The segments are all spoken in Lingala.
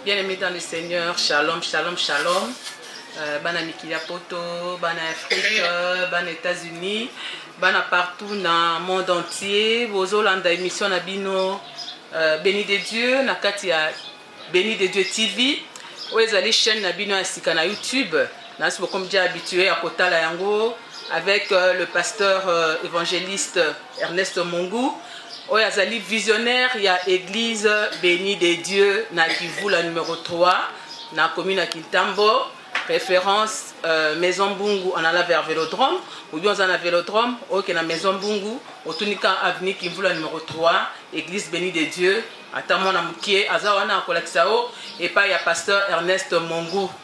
Bien aimé dans le Seigneur, shalom, shalom, shalom. Euh, bana mikili ya poto bana afrique euh, bana états-unis bana partout na monde entier bozolanda émission na bino euh, béni de dieu na kati ya béni de dieu tv oyo ezali chaîne na bino ya sika na youtube nasi bokomi déjà habitué ya kotala yango avec euh, le pasteur euh, évangéliste Ernest Mongu oyo azali visionnaire ya église béni de Dieu na Kivula numéro 3 na commune ya Kintambo référence euh, maison Bungu en allant vers Vélodrome ou bien en Vélodrome ok na maison Bungu otunika avenue Kivula numéro 3 église béni de Dieu ata mwana mokie aza wana akolakisa yo epai ya pasteur Ernest Mongu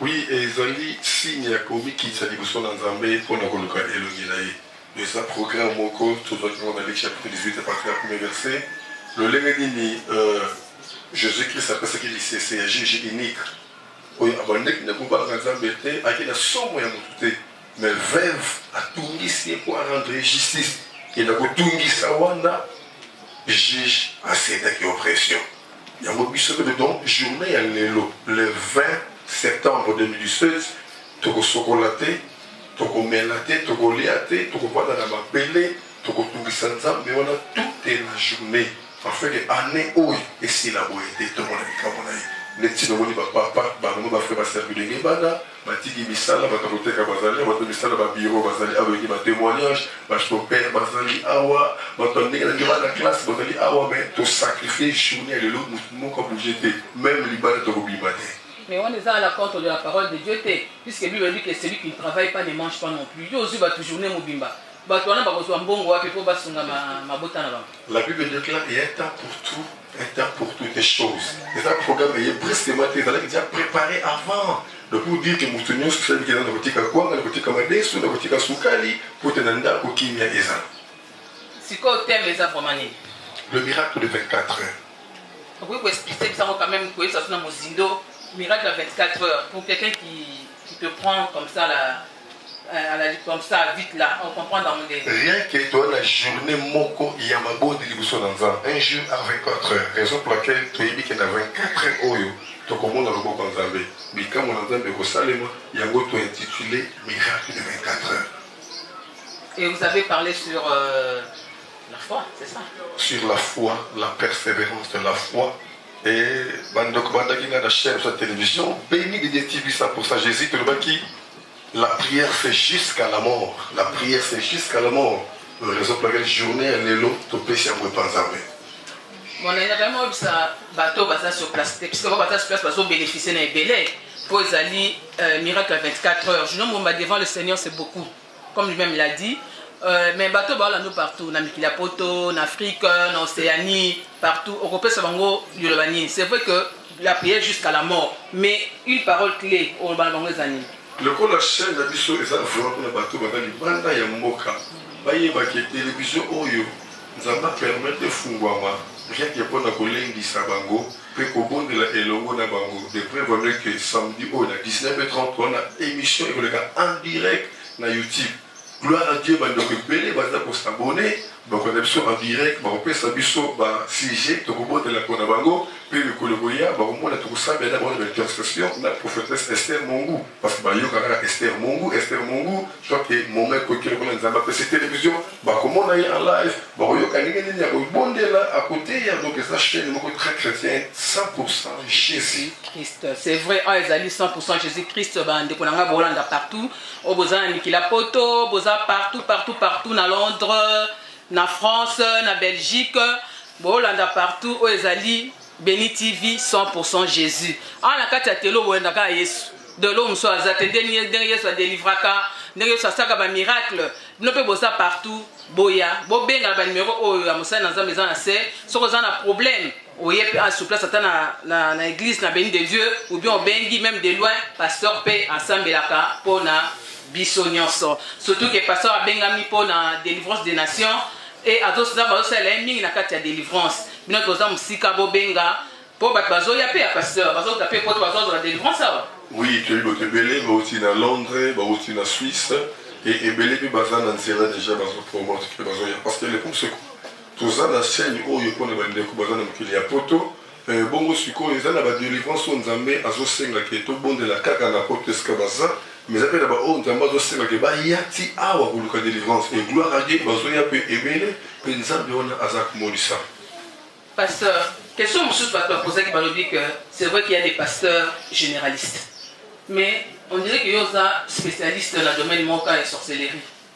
Oui ezali signe ya komikitisa liboso na Nzambe mpo na koluka elongi na ye. Eza programme moko tozwaki yango na Luc chapitre 18 à partir ya premier verset. Lolenge nini Jesus Christ apesaki lisese ya juge unique oyo abandaki na kobalaka Nzambe te, ayaki na somo ya moto te mais veuve atungisi ye mpo a rendre ye justice et na kotungisa wana juge a cedaki oppression. Yango biso pe donc journee ya lelo le 20 septembre 2016 tokosokola te tokomela te tokolia te tokovanda na mabele tokotungisa nzambe wana toute la journée afin que année oyo esila boye te tomona likambo na ye neti nomoni bapapa bango bafre baservi denge bana batiki misala bato ya koteka bazali awa, bato ya misala ba bureau bazali awa, toyoki ba temoignages, ba chauffeurs bazali awa, bato ya ndenge na ndenge, bana classe bazali awa, mais to sacrifier journee ya lelo, moto moko a bouger te, meme libanda tokobima te. Mais wana eza à la contre de la parole de Dieu te, puisque bible elobi que celui qui ne travaille pas ne mange pas non plus, yo ozwi bato journee mobimba, Bato wana bakozwa mbongo wapi mpo basunga mabota na bango? La Bible déclare il y a un temps pour tout, un temps pour toutes les choses. Eza programme eye brusquement te ezalaki déjà préparé avant. Donc pour dire que moto nyonso osali kenda na kotika kwanga na kotika madesu na kotika sukali mpo te na ndako kimia eza. Sikoyo thème eza vraiment nini? Le miracle de 24 heures. Okoki koexpliquer bisango quand même koyebisa biso na mozindo miracle ya 24 heures pour quelqu'un qui, qui te prend comme ça la Euh, à la comme ça vite là on comprend dans monde rien que toi la journée moko ya mabodi liboso na nzambe un jour à 24 heures raison pour laquelle toyebi ke na 24 heures oyo tokomona loboko ya nzambe bikambo na nzambe ekosalema yango to intitulé miracle de 24 heures et vous avez parlé sur euh, la foi c'est ça sur la foi la persévérance de la foi Et bandeko bandaki nga na chaîne sur la télévision béni de Dieu TV 100% Jésus tolobaki la prière c'est jusqu'à la mort la prière c'est jusqu'à la mort raison pour laquelle journée ya lelo topesi yango epa nzambe monene vraiment oyebisa bato oyo baza sur place te puisque bango baza sur place bazobénéficie na ebele mpo ezali euh, miracle ya 24 heures juno momba devant le seigneur c'est beaucoup comme lui-même il a dit euh, mais bato oyo baolando partout na mikili ya poto na afrique na océanie partout okopesa bango liloba nini c'est vrai que la prière jusqu'à la mort mais une parole clé oloba na bango eza nini lokola chaîne na biso eza vraiment mpona bato baza libanda ya mboka bayebaki televizio oyo nzambe apermete efungwama rien ke mpona kolendisa bango mpe kobondela elongo na bango. De prevale que samedi oyo na 19h30 wana emission ekoleka en direct na YouTube. Gloire à Dieu, bandeko ebele baza ko s'abonner, bakolanda biso en direct, bakopesa biso ba sujet tokobondela mpo na bango mpe mikolo ekoya bakomona tokosambela na bango na ba intercession na prophetesse Esther Mongu. parce que bayoka kaka Esther Mongu Esther Mongu soit que moma ekoki lokola nzambe apesi télévision bakomona ye en live bakoyoka ndenge nini ya kobondela akoteya donc eza chaîne moko très chrétien 100% jésus christ c'est vrai oyo ah, ezali 100% jésus christ bandeko na ngai bolanda partout oyo oh, boza na mikila poto boza partout partout partout na londres na france na belgique bolanda partout oyo oh, ezali Beni TV 100% Jesus. Awa na kati ya telo boyenda kaka Yesu. Delo mosusu aza te ndenge ndenge Yesu adelivraka, ndenge Yesu asaka ba miracle. Bino mpe boza partout boya bobenga ba numero oyo ya mosali na Nzambe eza na se soki oza na problème oye mpe a sur place ata na, na, na église na Beni de Dieu ou bien obengi même de loin pasteur mpe asambelaka mpo na biso nyonso surtout ke pasteur abengami mpo na délivrance des nations et azo nzambe azosalela ye mingi na kati ya delivrance bino toza mosika bobenga mpo bato bazoya mpe ya pasteur bazota mpe poto bazozala delivrance awa oui toyebi bato ebele bauti na londres bauti na suisse e ebele mpe baza na nzela deja bazopromote mpe bazoya parce que le problème c'est toza na chaîne oyo mpo na bandeko baza na mokili ya poto Ee, bongo sikoyo, ezali na ba-delivrance oyo Nzambe azosenga ke tobondela kaka na poto esika baza, mais eza pe na baoyo Nzambe azosenga ke baya ti awa koluka delivrance. Et gloire à Dieu, bazoya pe ebele, pe Nzambe wana aza komonisama. Pasteur, question mosusu batu bapozaki, balobi ke c'est vrai qu'il ya des pasteurs generalistes, mais on dirait ke yo oza specialiste na domaine moko kaka ya sorcellerie.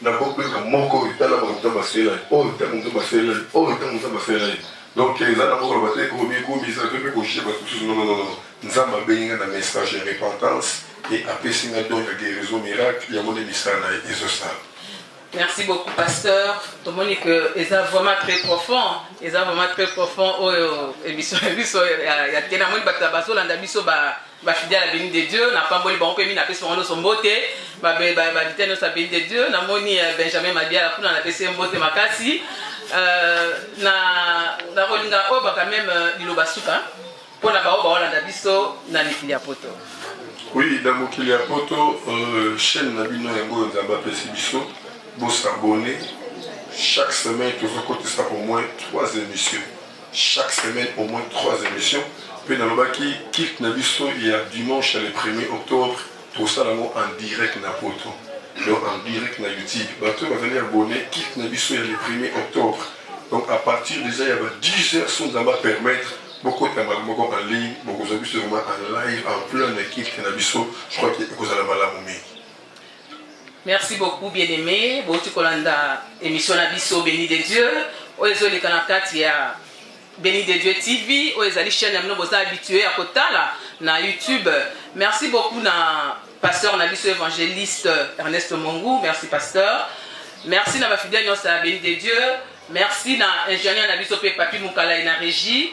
na bokwe na moko oyo tala ba nzambe asela ye oyo ntango nzambe asela ye oyo ntango nzambe asela ye donc eza na moko loba te komikumisa to mpe koshie bato mosusu nononono nzambe abengi nga na message ya repentance e apesi nga don ya guérison miracle yango nde misala na ye ezosala Merci beaucoup, pasteur. Tout le que est vraiment très profond. Est vraiment très profond. Oh, émission, émission, il y a tellement de batabasso, l'andabisso, bah. ba fidèle abeni de dieu na pamboli bango mpe mi napesi bango nyonso mbote bavitele nyonso abeni de dieu namoni euh, benjamin madiala kuna napesi ye mbote makasi euh, nakolinga oyo baka meme euh, liloba suka mpo na baoyo baolanda biso na mikili ya poto oui na mokili ya poto chaîne na bino yango oyo nzambe apesi biso bosabone chaque semaine tozokotisa au moins trois émissions chaque semaine au moins trois emissions mpe nalobaki kilt na biso ya dimanche ya le premier octobre tosala yango en direct na poto donc en direct na youtube bato oyo bazali abonne kilt na biso ya le premier octobre donc à partir déjà ya ba 10 heures so nzambe apermettre bokota mbala moko en ligne bokozwa biso vraiment en live en plein na kilt na biso je crois que ekozala malamu mingi Merci beaucoup bien aimé bouti kolanda émission na biso béni de Dieu oyo ezoleka na kati ya Béni de Dieu TV oyo ezali chaîne ya bino boza habitué ya kotala na YouTube. Merci beaucoup na pasteur na biso évangéliste Ernest Mongu. Merci pasteur. Merci na ba fidèles nyonso ya Béni de Dieu. Merci na ingénieur na biso pe Papi Mukala et na régie.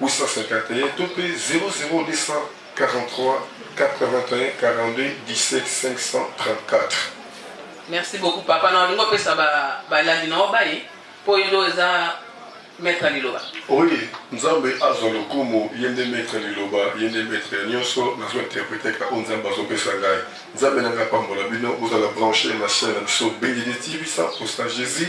851 to mpe 00243814217 534. Merci beaucoup papa na olingo pesa ba balandi na obaye po yendo eza maître liloba. Oui, Nzambe azo lokumu yende maître liloba yende maître ya nyoso nazo interpréter ka on Nzambe azo pesa ngai. Nzambe nanga pambola bino ozala branché na chaîne na biso Bendiditivisa Osta Jésus